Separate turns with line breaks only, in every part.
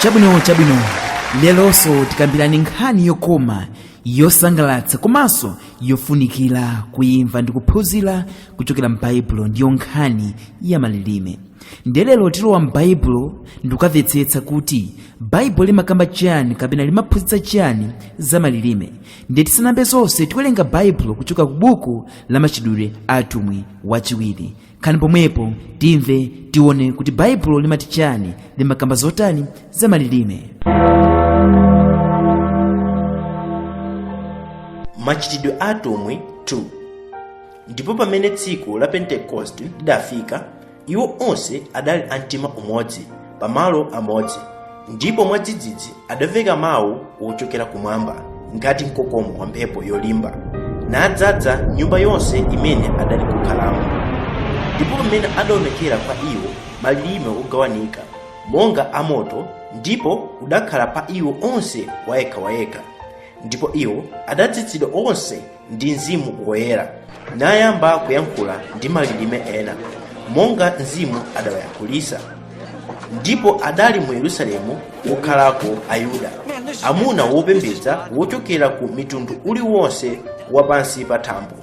chabwino chabwino lelonso tikambirani nkhani yokoma yosangalatsa komanso yofunikira kuimva ndi kuphunzira kuchokera m'baibulo ndiyo nkhani ya malilime ndiye lero tilowa m'baibulo ndikukamvetsetsa kuti baibulo limakamba chiyani kapena limaphunzitsa chiyani za malilime ndiye tisanambe zonse tiwerenga baibulo kuchoka ku buku la machitidwe a atumwi wachiwiri khalani pomwepo timve tione kuti baibulo limati chani limakamba zotani za malilime
machitidwe a atumwi 2 ndipo pamene tsiku la pentekoste lidafika iwo onse adali amtima umodzi pamalo amodzi ndipo mwadzidzidzi adamveka mawu wochokera kumwamba ngati mkokomo wa mphepo yolimba nadzaza nyumba yonse imene adali kukhalamo ndipo pamene adaonekera kwa iwo malilime ogawanika monga amoto ndipo udakhala pa iwo onse wayekha wayekha ndipo iwo adadzadzidwa onse ndi mzimu woyera nayamba kuyankhula ndi malilime ena monga mzimu adawayankhulitsa ndipo adali mu yerusalemu wokhalako ayuda amuna wopembedza wochokera ku mtundu uliwonse wa pansi pa
thambo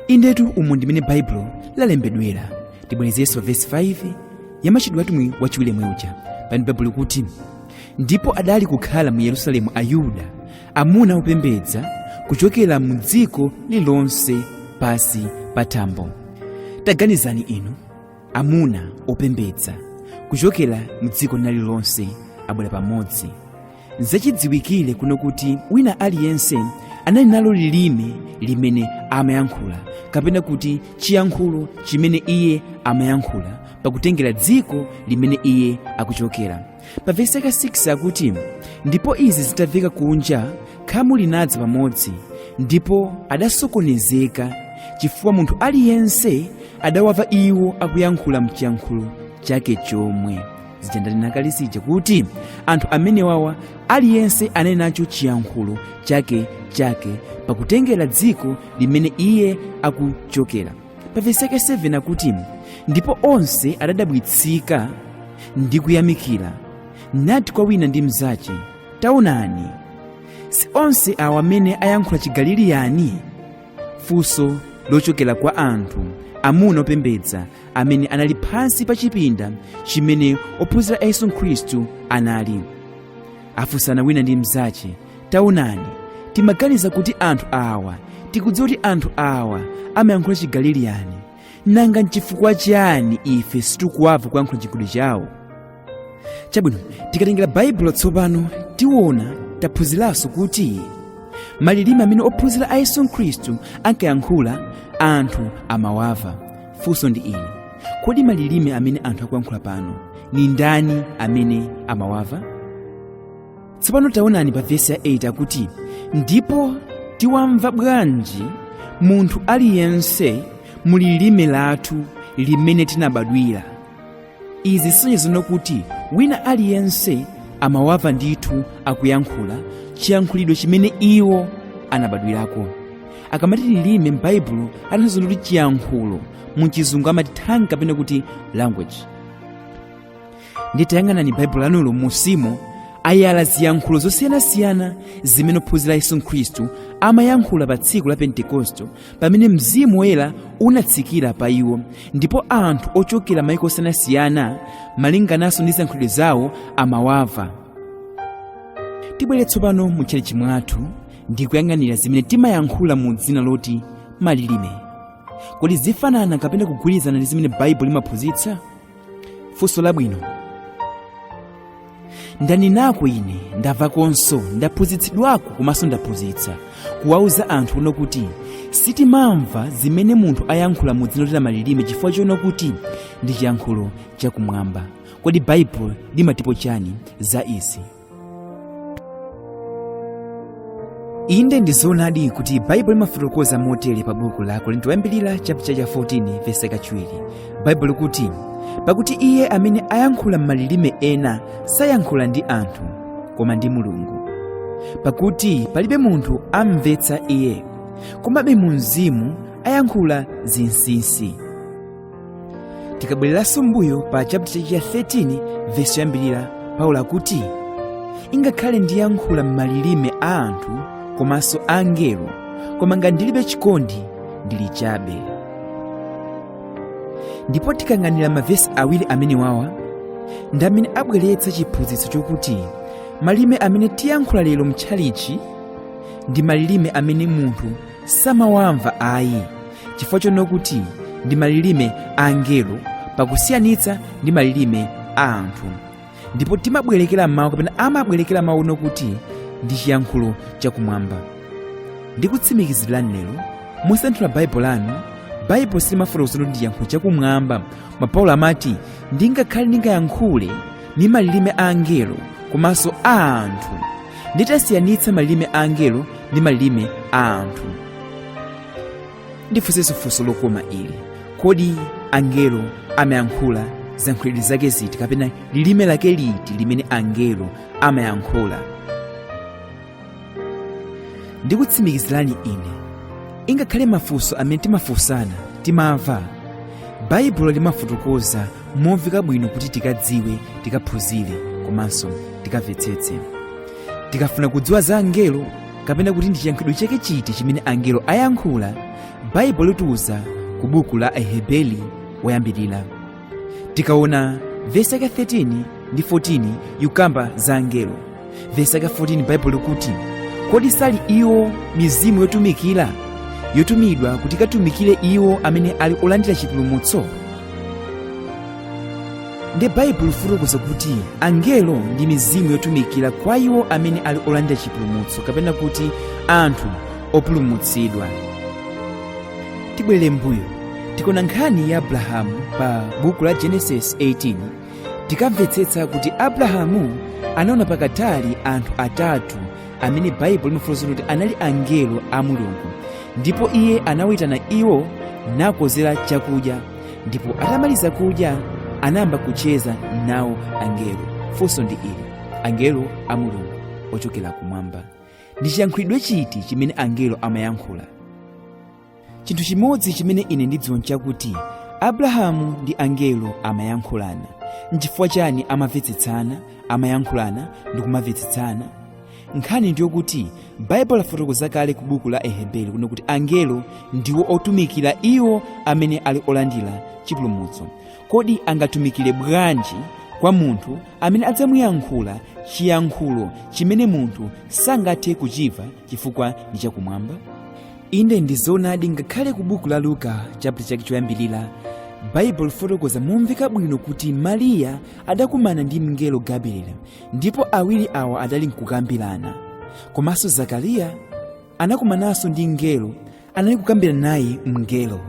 indetu umu ndimene baibulo lalembedwera tibwerezenso vesi 5 ya machitidwe a atumwi wachiwiri yemweuja pamene baibulo kuti ndipo adali kukhala mu yerusalemu ayuda amuna opembedza kuchokera mu dziko lilonse pasi pa thambo taganizani inu amuna opembedza kuchokera mu dziko lina lililonse abwera pamodzi zachidziwikire kuno kuti wina aliyense anali nalo lilime limene amayankhula kapena kuti chiyankhulo chimene iye amayankhula pakutengera dziko limene iye akuchokera pa vesi yake 6 akuti ndipo izi zitamveka kunja khamu linadza pamodzi ndipo adasokonezeka chifukwa munthu aliyense adawamva iwo akuyankhula mchiyankhulo chake chomwe zija ndanena kale zija kuti anthu amenewawa aliyense anali nacho chiyankhulo chake chake pakutengera dziko limene iye akuchokera pa vesi yake 7 akuti ndipo onse adadabwitsika ndi kuyamikira nati kwa wina ndi mnzache taonani si onse awa amene ayankhula chigaliliyani funso lochokera kwa anthu amuna opembedza amene anali pansi pa chipinda chimene ophunzira a yesu khristu anali afunsana wina ndi mnzache taonani timaganiza kuti anthu awa tikudziwa kuti anthu awa amayankhula chigaliliyani nanga nchifukwa chiyani ife sitikuwava kuyankhula chigulu chawo chabwino tikatengera baibulo tsopano tiona taphunziranso kuti malilime amene ophunzira a yesu khristu ankayankhula anthu amawava funso ndi ili kodi malilime amene anthu akuyankhula pano ni ndani amene amawava tsopano taonani pa vesi ya 8 akuti ndipo tiwamva bwanji munthu aliyense mu lilime lathu limene tinabadwira izi zisonyeza kuti wina aliyense amawamva ndithu akuyankhula chiyankhulidwe chimene iwo anabadwirako akamati lilime m'baibulo atanthauza kuti chiyankhulo mu chizungu amati tongue kapena kuti language ndi tayang'anani baibulo lanulo musimu ayala ziyankhulo zosiyanasiyana zimene ophunzira yesu khristu amayankhula pa tsiku la pentekosto pamene mzimu woyera unatsikira pa iwo ndipo anthu ochokera maiko osiyanasiyana malingananso ndi ziyankhulidwe zawo amawava tibwere tsopano mu tchalitchi mwathu ndi kuyang'anira zimene timayankhula mu dzina loti malilime kodi zifanana kapena kugwirizana ndi zimene baibulo limaphunzitsa funso labwino ndanenako ine ndavakonso ndaphunzitsidwako komanso ndaphunzitsa kuwauza anthu ono kuti sitimamva zimene munthu ayankhula mu dzina loti malilime chifukwa chono kuti ndi chiyankhulo chakumwamba kodi baibulo limatipo chani za izi inde ndi zoonadi kuti baibulo limafotokoza motere pa buku la akorinto oyambirira chaputala cha 14 vesi kachiwiri baibulo kuti pakuti iye amene ayankhula m'malilime ena sayankhula ndi anthu koma ndi mulungu pakuti palibe munthu amvetsa iye komabe mu mzimu ayankhula zinsinsi tikabwereranso mbuyo pa chapter cha 13 vesi yoyambirira paulo akuti ingakhale ndiyankhula m'malilime a anthu komanso angelo koma ngati ndilibe chikondi ndili chabe ndipo tikayang'anira mavesi awiri amenewawa ndi amene abweretsa chiphunzitso chokuti malilime amene tiyankhula lero mtchalichi ndi malilime amene munthu samawamva ayi chifukwa chono kuti ndi malilime a angelo pakusiyanitsa ndi malilime a anthu ndipo timabwerekera mawu kapena amabwerekera mawu ono kuti ndi chiyankhulo chakumwamba ndikutsimikizirani lero musanthula baibulo lanu baibulo silimafotokoza kuti ndi chiyankhulo chakumwamba koma paulo amati ndingakhale ndingayankhule ndi malilime a angelo komanso a anthu nditasiyanitsa malilime a angelo ndi malilime a anthu ndifunsenso funso lokoma ili kodi angelo amayankhula ziyankhulidwe zake ziti kapena lilime lake liti limene angelo amayankhula ndikutsimikizirani ine ingakhale mafunso amene timafunsana timamva baibulo limafotokoza momveka bwino kuti tikadziwe tikaphunzire komanso tikamvetsetse tikafuna kudziwa za angelo kapena kuti ndi chiyankhulidwe chake chiti chimene angelo ayankhula baibulo litiuza ku buku la aheberi woyambirira tikaona vesi yake 13 ndi 14 ikukamba za angelo vesi yake 14 baibulo likuti kodi sali iwo mizimu yotumikira yotumidwa kuti ikatumikire iwo amene ali olandira chipulumutso nde baibulo lifotokoza kuti angelo ndi mizimu yotumikira kwa iwo amene ali olandira chipulumutso kapena kuti anthu opulumutsidwa tibwerere mbuyo tikaona nkhani ya abrahamu pa buku la genesis 18 tikamvetsetsa kuti abrahamu anaona patali anthu atatu amene baibulo limafotokoza kuti anali angelo a mulungu ndipo iye anawayitana iwo nakonzera chakudya ndipo atamaliza kudya anayamba kucheza nawo angelo funso ndi ili angelo a mulungu ochokera kumwamba ndi chiyankhulidwe chiti chimene angelo amayankhula chinthu chimodzi chimene ine ndidziwa nchakuti abrahamu ndi angelo amayankhulana nchifukwa chani amamvetsetsana amayankhulana ndi kumamvetsetsana nkhani ndiyokuti baibulo lafotokoza kale ku buku la aheberi kuno kuti angelo ndiwo otumikira iwo amene ali olandira chipulumutso kodi angatumikire bwanji kwa munthu amene adzamuyankhula chiyankhulo chimene munthu sangathe kuchimva chifukwa ndi chakumwamba inde ndi zoonadi ngakhale ku buku la luka chapter chake choyambirira baibulo lifotokoza momveka bwino kuti mariya adakumana ndi mngelo gabrieli ndipo awiri awa adali nkukambirana komanso zakariya anakumananso ndi mngelo anali kukambirana naye mngelo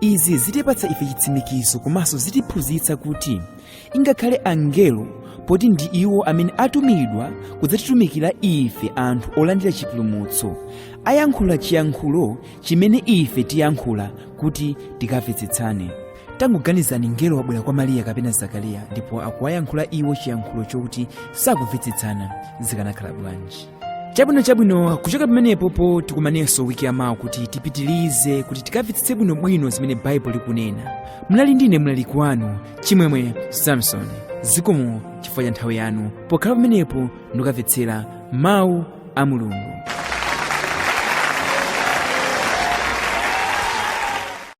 izi zitipatsa ife chitsimikizo komanso zitiphunzitsa kuti ingakhale angelo poti ndi iwo amene atumidwa kudzatitumikira ife anthu olandira chipulumutso ayankhula chiyankhulo chimene ife tiyankhula kuti tikamvetsetsane tangoganizani mngelo wabwera kwa mariya kapena zakariya ndipo akuwayankhula iwo chiyankhulo chokuti sakumvetsetsana zikanakhala bwanji chabwino chabwino kuchoka pamenepopo tikumanenso wiki yamawa kuti tipitilize kuti tikamvetsetse bwinobwino zimene baibulo likunena munali ndine mlaliki wanu chimwemwe samson zikomo chifukwa cha nthawi yanu pokhala pamenepo ndikukamvetsera mawu a mulungu